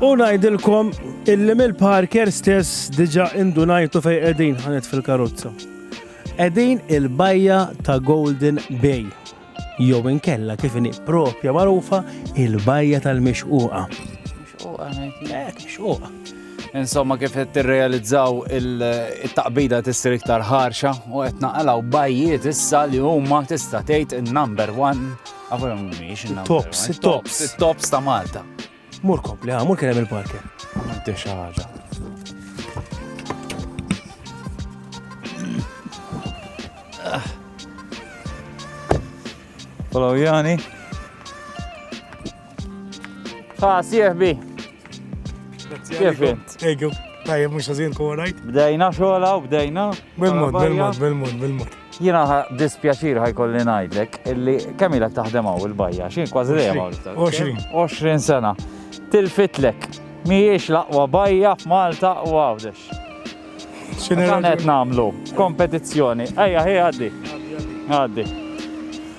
U ngħidilkom illi mill-parker stess diġa indunajtu fej qegħdin ħanet fil-karozza. Qegħdin il-bajja ta' Golden Bay. Jew inkella kif inhi propja magħrufa il-bajja tal-mixquqa. Mixquqa. Insomma kif qed tirrealizzaw il-taqbida tissir iktar ħarxa u qed naqalgħu bajjiet issa li huma tista' tgħid in-number one Għabar mumiex. Tops, tops. Tops ta' Malta. Mur kompli, mur kien hemm il-parker. Għamilti xi ħaġa. Follow Jani. Ha, sieħbi. Kif int? Ejju, tajja mhux ħażin kora. Bdejna xogħla u bdejna. Bil-mod, bil-mod, bil-mod, bil-mod. Jiena ħa dispjaċir ħa jkolli ngħidlek illi kemm ilha taħdem hawn il-bajja, xi kważi dejjem hawn. 20. 20 sena. Tilfitlek. Mhijiex l-aqwa bajja f'Malta u għawdex. X'inhi Dan qed nagħmlu kompetizzjoni. Ejja ħi għaddi. Għaddi.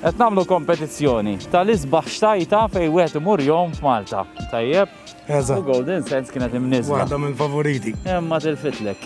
Qed nagħmlu kompetizzjoni tal-isbaħ xtajta fejn wieħed imur jom f'Malta. Tajjeb? U Eżatt. Golden Sands kienet imniżla. Waħda mill-favoriti. Imma tilfitlek.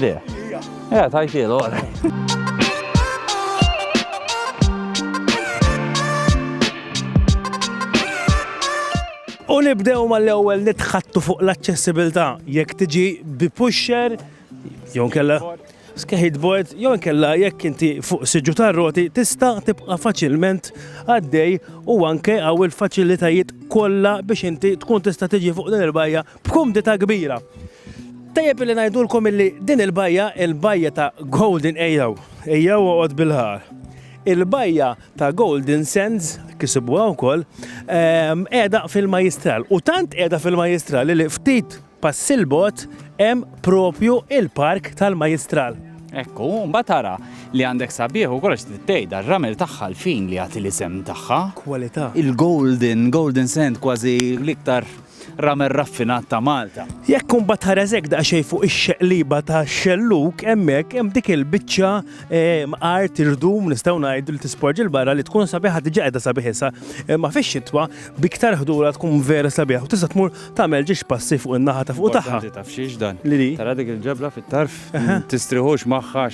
Le. Eh, tajtilu, U nibdew mal-ewwel nitħattu fuq l-aċċessibilità jekk tiġi bi pusher jew kella skateboard jew kella jekk inti fuq siġu tar-roti tista' tibqa' faċilment għaddej u anke għaw il-faċilitajiet kollha biex inti tkun tista' tiġi fuq din il-bajja b'kumdità kbira. Tajjeb illi ngħidulkom illi din il-bajja, il-bajja ta' Golden ejjew, ejjew oqgħod bil-ħar. Il-bajja ta' Golden Sands, kisibuha wkoll, ehm, qiegħda fil-Majistral. U tant qiegħda fil-Majistral li ftit passi l-bot hemm propju il-park tal-Majistral. Ekku, mbagħad tara li għandek sabiħ u kollox tittej dar-ramel tagħha l-fin li jagħti l-isem tagħha. Kwalità. Il-golden, golden sand kważi l-iktar ramen raffinat ta' Malta. Jekk imbagħad tħares hekk daqsxejn fuq ix-xeqliba ta' xellug hemmhekk hemm dik il-biċċa ehm, art irdum nistgħu ngħidu li tisporġi l-barra li tkun sabiħa diġà qiegħda sabiħ issa ma fix-xitwa biktar ħdura tkun vera sabiħa u tista' tmur tagħmel ġiex passi fuq in-naħa ta' fuq tagħha. Taf xiex dan. Li Tara dik il-ġebla fit-tarf tistriħux magħha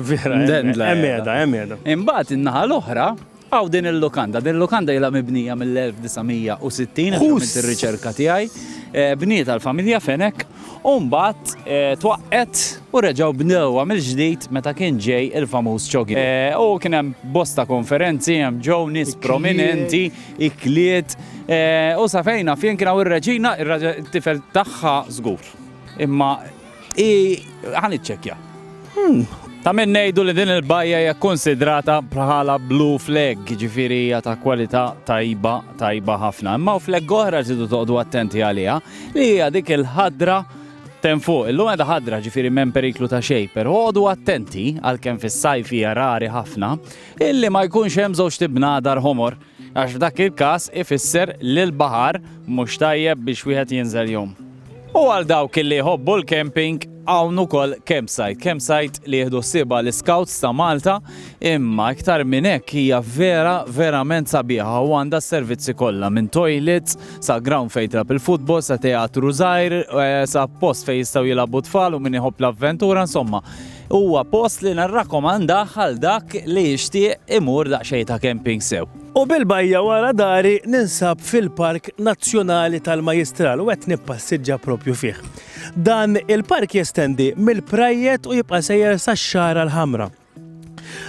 vera. Hemm qiegħda, hemm qiegħda. Imbagħad in-naħa l-oħra Hawn din il-lukanda. Din il-lukanda ilha mibnija mill-1960, hekk għamilt ir-riċerka tiegħi. Bnietha l-familja Fenech u mbagħad twaqqgħet u reġgħu bnewha mill-ġdid meta kien ġej il-famuż Chogi. U kien hemm bosta konferenzi, hemm ġew nies prominenti, ikliet, u sa fejn naf jien kien hawn ir-reġina, ir-tifel tagħha żgur. Imma I ħan iċċekkja. Hmm. Ta' minn ngħidu li din il-bajja hija konsidrata bħala blue flag, ġifieri hija ta' kwalità tajba, tajba ħafna. Imma flag oħra ġidu toqdu attenti għaliha li hija dik il-ħadra ten fuq. Illum għedha ħadra ġifieri m'hemm periklu ta' xejn, però għodu attenti għalkemm fis-sajf hija rari ħafna illi ma jkunx hemm żewġ tibna dar homor Għax f'dak il-każ ifisser li l-baħar mhux tajjeb biex wieħed jinżel jum. U għal dawk li jħobbu l-camping, hawn ukoll campsite. Campsite li jieħdu ħsiebha l-Iscouts ta' Malta, imma iktar minn hekk hija vera verament sabiħa u għandha s-servizzi kollha minn toilets sa ground fejn trab il-futbol, sa teatru żgħir, eh, sa post fejn jistgħu jilagħbu tfal u min iħobb l-avventura, insomma. Huwa post li nirrakkomandah għal dak li jixtieq imur daqsxejn ta' camping sew. U bil-bajja wara dari ninsab fil-Park Nazzjonali tal-Majjistral u qed nippassiġġa proprju fih. Dan il-park jestendi mill-Prajjed u jibqa' sejjer sax-Xagħra l-Ħamra.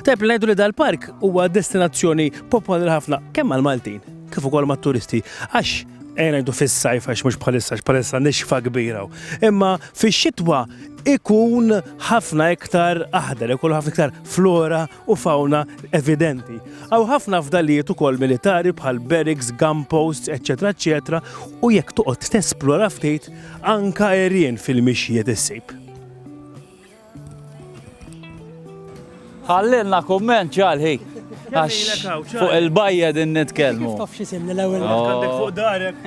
Tajjeb li ngħidu li dal-park huwa destinazzjoni popolari ħafna kemm mal-Maltin kif ukoll mat-turisti għax ejja ngħidu fis-sajf għax mhux bħalissa għax bħalissa nixfa kbira hawn. Imma fix-xitwa ikun ħafna iktar aħdar, ikun ħafna iktar flora u fauna evidenti. Aw ħafna fdalijiet ukoll militari bħal barracks, gun posts, eċetera, eċetera, u jekk toqgħod tesplora ftit anka erien fil-mixjiet issib. Ħallilna kumment ġalħi. Fuq il-bajja din nitkellmu. Kif tafx isimni l-ewwel oh. fuq darek.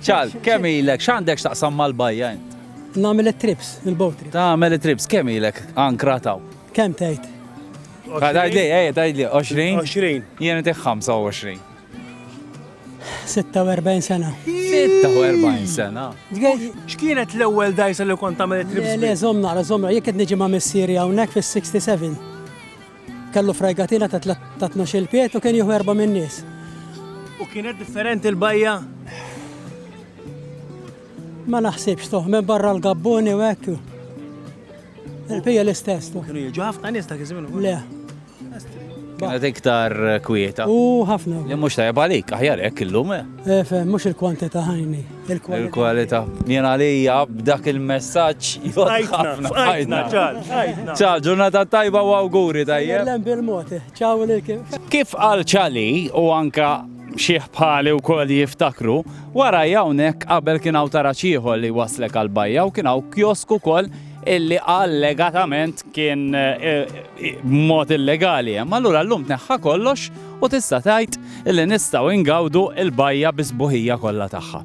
Ċal, kemm ilek, x'għandek x'taqsam mal-bajja int? Nagħmel it-trips, il-boat trips. Tagħmel it-trips, kemm ilek ankra taw? Kemm tgħid? Tgħidli, ej, tgħidli, 20? 20. Jien inti 25. 46 sena. 46 sena. X'kienet l-ewwel dajsa li kont tagħmel it-trips? Le, żomm nara, żomm nara, jekk qed niġi ma' missieri hawnhekk fis-67. Kellu frajgatina ta' ta' tnax-il pied u kien jieħu erba' min-nies. U kienet differenti l-bajja? Ma naħsibx toħ, minn barra l-gabbuni u hekk. Il-pija l-istess. Kienu jiġu ħafna nies ta' kizmin. Le. Kienet iktar kwieta. U ħafna. Li mhux tajjeb għalik, aħjar hekk illum. Efe, eh? eh, mhux il-kwantità ħajni. Il-kwalità. Jien għalija b'dak il-messaġġ jgħidħafna. Għajtna, ċar. Ċa, ġurnata tajba u awguri tajjeb. Lembi bil-mod, ċaw li kien. Kif għal ċali u anka xieħ bħali u kol jiftakru, wara jawnek qabel kien għaw taraċiħol li waslek għal-bajja u kien għaw kjosku kol illi allegatament kien eh, eh, mod illegali. Ma l-ura l-lum neħħa kollox u tista' tgħid li nistgħu ingawdu l-bajja bi sbuħija kollha tagħha.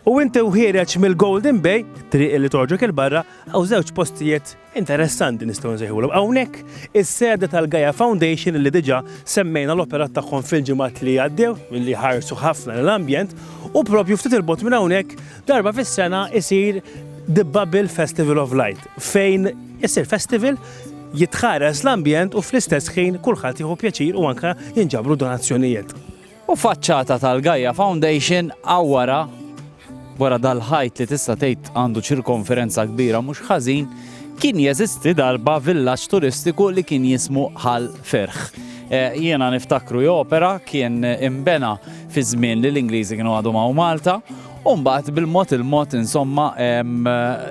U inti wħiereġ mill-Golden Bay, triq li torġok il-barra, għaw żewġ postijiet interessanti nistgħu nsejħulhom. Hawnhekk is-sede tal-Gaia Foundation li diġà semmejna l-operat tagħhom fil-ġimgħat li għaddew, milli ħarsu ħafna l-ambjent, u propju ftit il-bot minn hawnhekk darba fis-sena isir The Bubble Festival of Light, fejn isir festival jitħares l-ambjent u fl-istess ħin kulħadd jieħu pjaċir u anke jinġabru donazzjonijiet. U faċċata tal-Gaia Foundation għawara wara dal-ħajt li tista' tgħid għandu ċirkonferenza kbira mhux ħażin kien jeżisti darba villaġġ turistiku li kien jismu Ħal Ferħ. Eh, jiena niftakru jopera kien imbena fi żmien li l-Ingliżi kienu għadhom hawn Malta U mbagħad bil-mod il-mod insomma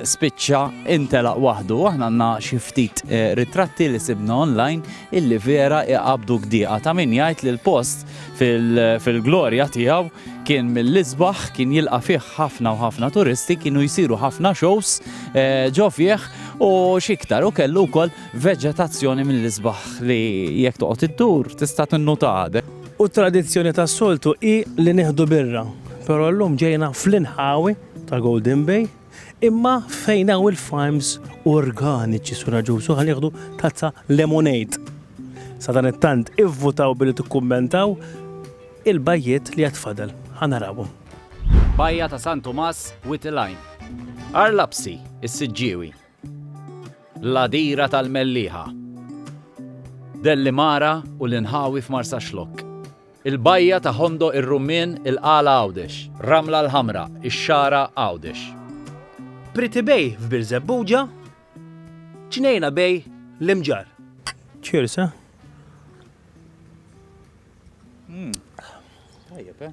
spiċċa intelaq waħdu. Aħna għandna xi ftit eh, ritratti li sibna online illi vera iqabdu gdiqa ta' min jgħid li l-post fil-glorja tiegħu kien mill-isbaħ kien jilqa' fih ħafna u ħafna turisti kienu jsiru ħafna shows eh, ġo fih u xiktar u kellu wkoll veġetazzjoni mill-isbaħ li jekk toqgħod iddur tista' tinnutade. U t-tradizzjoni tas-soltu hi li nieħdu birra, però llum ġejna fl-inħawi ta' Golden Bay, imma fejn hawn il-farms organiċi Sura Ġusu ħa nieħdu tazza lemonade. Sadanittant ivvutaw billi tikkummentaw il-bajjiet li għad fadal. Ħa narawhom. Bajja ta' San Tumas, Wied il-Għajn. Għar Lapsi, is-Siġġiewi. L-għadira tal-Mellieħa. Dellimara u l-inħawi f'Marsaxlokk. Il-bajja ta' Ħondoq ir-Rummien il-Qala Għawdex. Ramla l-Ħamra, ix-Xagħra Għawdex. Pretty Bay f'Birżebbuġa. Ġnejna Bay l-Imġarr. Cheers, eh? Tajjeb, eh?